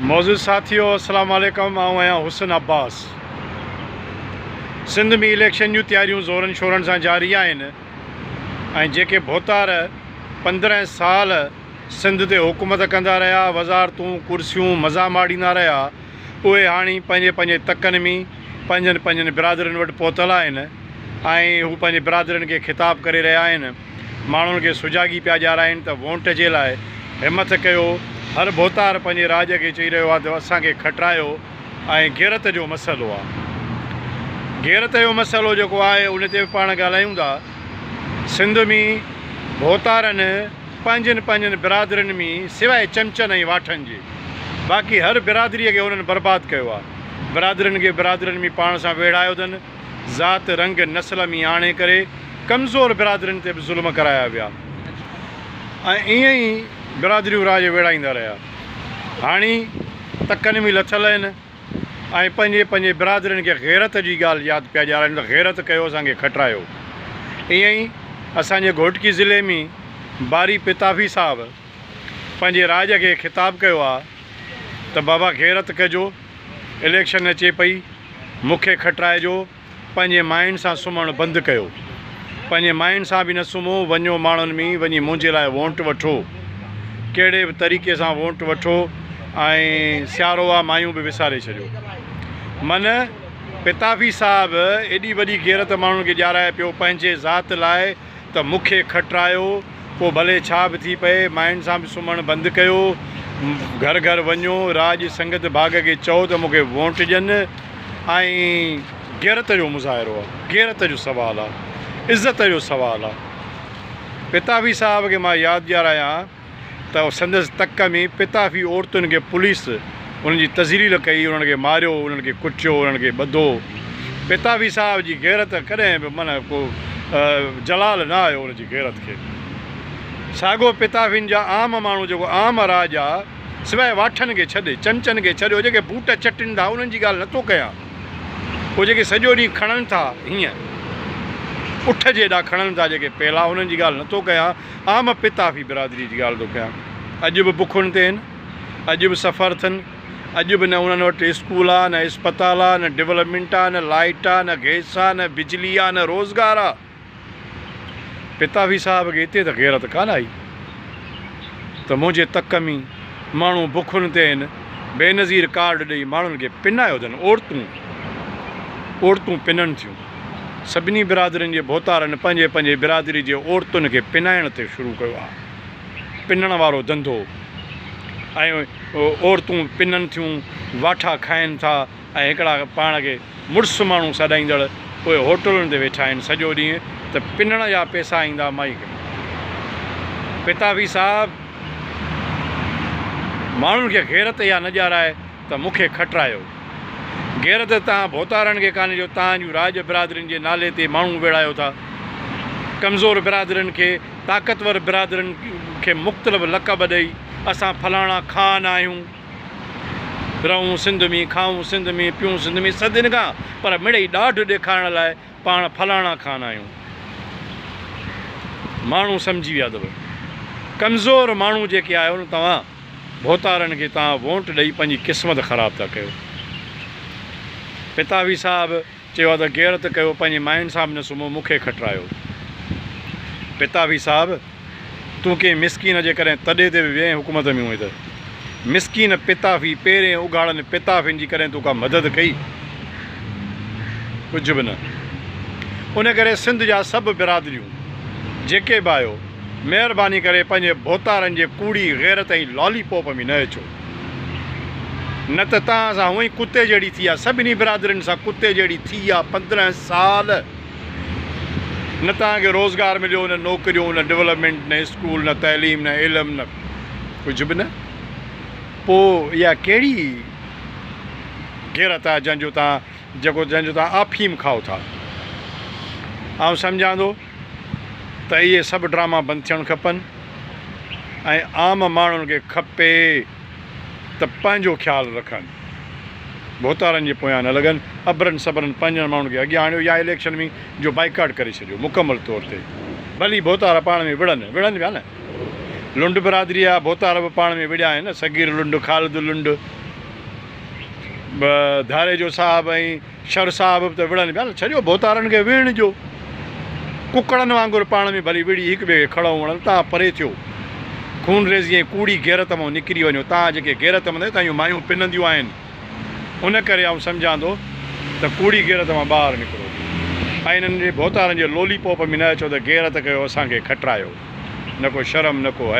معزز ساٿيو السلام عليڪم آئون آهيان حسن عباس سنڌ ۾ اليڪشن جون تياريون زورن شورن سان جاري آهن ۽ جيڪي ڀوتار پندرهن سال سنڌ تي حڪومت ڪندا رهيا وزارتون ڪرسيون مزا ماڙيندا رهيا اهي هاڻي پنهنجي پنهنجي تڪن ۾ پنهنجن پنهنجن برادرين وٽ پهتل آهن ۽ هو پنهنجي برادرين کي خطاب ڪري رهيا آهن. ماڻهن کي سجاڳي پيا ڄارائين ته وونٽ جي لاء همٿ ڪيو، هر ڀوتار پنهنجي راڄ کي چئي رهيو آهي ته اسان کي کٽرايو ۽ غيرت جو مسئلو آهي غيرت جو مسئلو جيڪو آهي ان تي به پاڻ ڳالهايون ٿا سنڌ مين ڀوتارن پنهنجين پنهنجين برادرين مين سواء چمچن ۽ واٺن جي باقي هر برادري کي انهن برباد ڪيو آهي برادرين کي برادرين مين پاڻ سان ويڙهايو اٿن. ذات، رنگ، نسل ۾ آڻي ڪري ڪمزور برادرين تي به ظلم ڪرايا ويا ۽ ائين ئي برادريون راڄ ويڙهائيندا رهيا. هاڻي تڪن ۾ لٿل آهن ۽ پنهنجي پنهنجي برادرين کي غيرت جي ڳالهه ياد پيا ڏيارائين ته غيرت ڪيو اسان کي کٽرايو. ائين ئي اسان جي گهوٽڪي ضلعي ۾ باري پتافي صاحب پنهنجي راڄ کي خطاب ڪيو آهي ته بابا غيرت ڪجو. اليڪشن اچي پئي، مون کي کٽرائي جو پنهنجي ماين سان سمهڻ بند ڪيو. پنهنجي ماين سان به نه سمهو، وڃو ماڻهن ۾ وڃي منهنجي لاء وونٽ وٺو. ڪهڙي به طريقي سان وونٽ وٺو ۽ سيارو آ مايون به وساري ڇڏيو. من پتافي صاحب ايڏي وڏي غيرت ماڻهن کي ڏيارائي پيو پنهنجي ذات لاء، ته مون کي کٽرايو، پوء ڀلي ڇا به ٿي پئي، ماين سان به سمهڻ بند ڪيو. گهر گهر وڃو، راڄ سنگت ڀاڳ کي چئو ته مون کي وونٽ ڏين. ۽. غيرت جو مظاهرو آ. غيرت جو سوال آ. عزت جو سوال آ. پتاوي صاحب کي مان ياد ڏيارايان. ته سندس تڪ ۾ پتافي عورتن کي پوليس انهن جي تذليل ڪئي، انهن کي ماريو، انهن کي ڪٽيو، انهن کي ٻڌو. پتافي صاحب جي غيرت ڪڏهن به معنيٰ ڪو زلال نه آيو ان جي غيرت کي. ساڳو پتافين جا عام ماڻهو جيڪو عام راڄ آ، سواء واٺن کي ڇڏي، چمچن کي ڇڏي، اهي جيڪي بوٽ چٽين ٿا انهن جي ڳالهه نه ٿو ڪيان. اهي جيڪي سڄو ڏينهن کڻن ٿا هيئن اٺ جي ايڏا کڻن ٿا جيڪي پيلا انهن جي ڳالهه نه ٿو ڪيان. آء م پتافي برادريء جي ڳالهه ٿو ڪيان. اڄ به بکن تي هن. اڄ به سفر اٿن. اڄ به نه انهن وٽ اسڪول آ، نه اسپتال آ، نه ڊولپمينٽ آ، نه لائيٽ آ، نه گئس آ، نه بجلي آ، نه روزگار آ. پتافي صاحب کي اتي ته غيرت ڪانه آئي ته منهنجي تڪ ۾ ماڻهو بکن تي هن. بينظير ڪارڊ ڏئي ماڻهن کي پنايو اٿن. عورتون عورتون پنن ٿيون. سڀني برادرين جي ڀوتارن پنهنجي پنهنجي برادري جي عورتن کي پنائڻ تي شروع ڪيو آهي. پنڻ وارو ڌنڌو ۽ عورتون پنن ٿيون، واٺا کائين ٿا ۽ هڪڙا پاڻ کي مڙس ماڻهو سڏائيندڙ پوء هوٽلن تي ويٺا آهن سڄو ڏينهن ته پنڻ جا پيسا ايندا مائي کي. پتافي صاحب ماڻهن کي غيرت اها نه ڄارائي. ته مون کي کٽرايو. غيرت تان ڀوتارڻ کي ڪانهي جو تان جون راڄ برادرين جي نالي تي ماڻهو ويڙهايو ٿا. ڪمزور برادرين کي طاقتور برادرين کي مختلف لقب ڏئي اسان فلاڻا خان آهيون. رهون سنڌ ۾، کائون سنڌ ۾، پيئون سنڌ ۾ صدين کان پر مڙئي ڏاڍ ڏيکارڻ لاء پاڻ فلاڻا خان آهيون. ماڻهو سمجهي ويا اٿو. ڪمزور ماڻهو جيڪي آهيو نه توهان. ڀوتارن کي توهان وونٽ ڏئي پنهنجي قسمت خراب ٿا ڪيو. پتاوي صاحب چيو ها ته غيرت ڪيو پنهنجي ماين سان به نه سمهو مون کي کٽرايو. پتاوي صاحب تون ڪنهن مسڪين جي ڪڏهن تڏي تي به ويهين حڪومت ۾ هئين ته مسڪين پتافي پيرين اگهاڙن پتافين جي ڪڏهن تو ڪا مدد ڪئي؟ ڪجهه به نه. ان ڪري سنڌ جا سڀ برادريون جيڪي به آهيو. مهرباني ڪري پنهنجي ڀوتارن جي ڪوڙي غيرت ۽ لالي پوپ ۾ نه اچو نه ته توهان سان هونئن ڪتي جهڙي ٿي آ سڀني برادرين سان ڪتي جهڙي ٿي آ پندرهن سال نه توهان کي روزگار مليو نه نوڪريون نه ڊولپمينٽ نه اسڪول نه تعليم نه علم نه ڪجهه به نه پو اها ڪهڙي غيرت آ جنهن جو توهان جيڪو جنهن جو توهان آفيم کائو ٿا آئون سمجهان ٿو ته اهي سڀ ڊراما بند ٿيڻ کپن ۽ عام ماڻهن کي کپي ته پنهنجو خيال رکن ڀوتارن جي پويان نه لڳن ابرن سبرن پنهنجن ماڻهن کي اڳيان آڻيو يا اليڪشن ۾ جو بائيڪاٽ ڪري ڇڏيو مڪمل طور تي ڀلي ڀوتارا پاڻ ۾ وڙهن وڙهن پيا نه لنڊ برادري جا ڀوتار به پاڻ ۾ وڙهيا آهن نه صغير لنڊ خالد لنڊ به ڌاريجو صاحب ۽ شر صاحب به ته وڙهن پيا نه، ڇڏيو ڀوتارن کي وڙهڻ جو. ڪڪڙن وانگر پاڻ ۾ ڀلي وڙهي هڪ ٻئي کي کڙئون وڙهن، تان پري ٿيو. خونريزي ۽ ڪوڙي غيرت مان نڪري وڃو، تان جيڪي غيرت مند آهن، تان اهيون مايون پننديون آهن. ان ڪري آئون سمجهان ٿو ته ڪوڙي غيرت مان ٻاهر نڪرو ۽ انهن جي ڀوتارن جي لولي پوپ ۾ نه اچو ته غيرت ڪيو، اسان کي کٽرايو. نه ڪو شرم نه ڪو حياء.